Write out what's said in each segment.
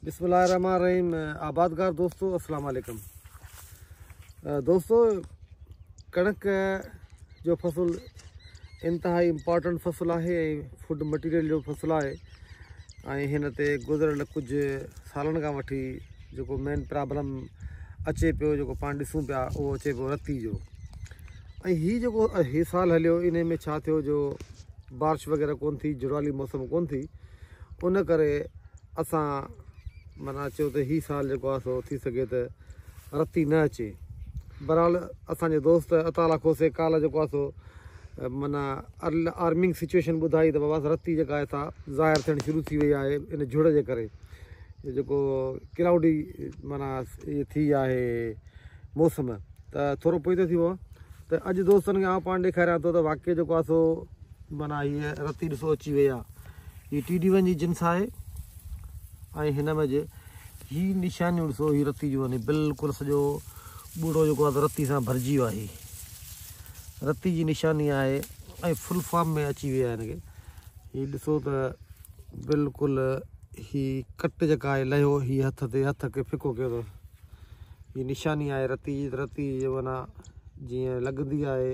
بسم الله الرحمن الرحيم آبادگار دوستو السلام عليڪم دوستو ڪڻڪ جو فصل انتهائي امپارٽنٽ فصل آهي ۽ فوڊ مٽيريل جو فصل آهي ۽ هن تي گذريل ڪجهه سالن کان وٺي جيڪو مين پرابلم اچي پيو جيڪو پاڻ ڏسون پيا اهو اچي پيو رتي جو ۽ هي جيڪو هي سال هليو ان ۾ ڇا ٿيو جو بارش وغيره ڪون ٿي جڙوالي موسم ڪون ٿي ان ڪري اسان معنيٰ چيو ته هي سال جيڪو آهي سو ٿي سگهي ته رتي نه اچي. بهرحال اسان جي دوست عطاالله کوسي ڪالهه جيڪو آهي سو معنيٰ الارمنگ سچوئيشن ٻڌائي ته بابا رتي جيڪا آهي سا ظاهر ٿيڻ شروع ٿي وئي آهي ان جهڙ جي ڪري جيڪو ڪلائوڊي معنيٰ اهي ٿي آهي موسم ته ٿورو پوئي ٿو ٿي پوان ته اڄ دوستن کي آئون پاڻ ڏيکاريان ٿو ته واقعي جيڪو آهي سو معنيٰ هيء رتي ڏسو اچي وئي آهي هي ٽي ڊي ون جي جنس آهي ۽ هن ۾ جي هي نشانيون ڏسو هي رتي جو يعني بلڪل سڄو ٻوڙو جيڪو آهي رتي سان ڀرجي ويو آهي رتي جي نشاني آهي ۽ فل فارم ۾ اچي ويا آهن هي ڏسو ته بلڪل هي ڪٽ جيڪا آهي لهيو هي هٿ تي هٿ کي ڦڪو ڪيو اٿو هي نشاني آهي رتي جي رتي جي معنيٰ جيئن لڳندي آهي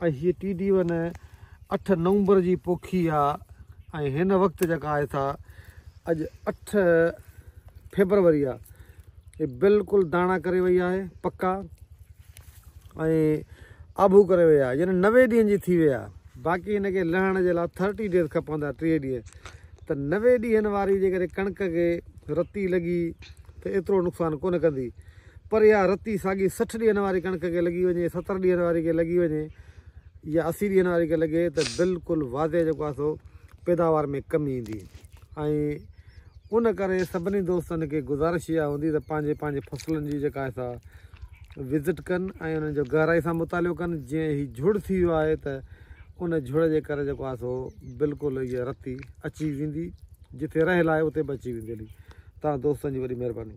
۽ هيء ٽي ڊي ون اٺ نومبر جي پوکي آ ۽ هن وقت جيڪا آهي سا اڄ اٺ فيبروري آ هي بلڪل داڻا ڪري وئي آهي پڪا ۽ آبو ڪري وئي آ يعني نوي ڏينهن جي ٿي وئي آ باقي هن کي لهڻ جي لا ٿرٽي ڊيز کپندا ٽيهه ڏينهن ته نوي ڏينهن واري جيڪڏهن ڪڻڪ کي رتي لڳي ته ايترو نقصان ڪونه ڪندي پر اها رتي ساڳي سٺ ڏينهن واري ڪڻڪ کي لڳي وڃي، ستر ڏينهن واري کي لڳي وڃي يا اسي ڏينهن واري کي لڳي ته بلڪل واضح جيڪو آهي سو پيداوار ۾ ڪمي ايندي ۽ ان ڪري سڀني دوستن کي گذارش اها هوندي ته پنهنجي پنهنجي فصلن جي جيڪا آهي سا وزٽ ڪن ۽ انهن جو گهرائي سان مطالعو ڪن جي هي جھڙ ٿي ويو آهي ته ان جھڙ جي ڪري جيڪو آهي سو بلڪل هي رتي اچي ويندي جتي رهيل آهي اتي به اچي ويندي هلي تان دوستن جي وڏي مهرباني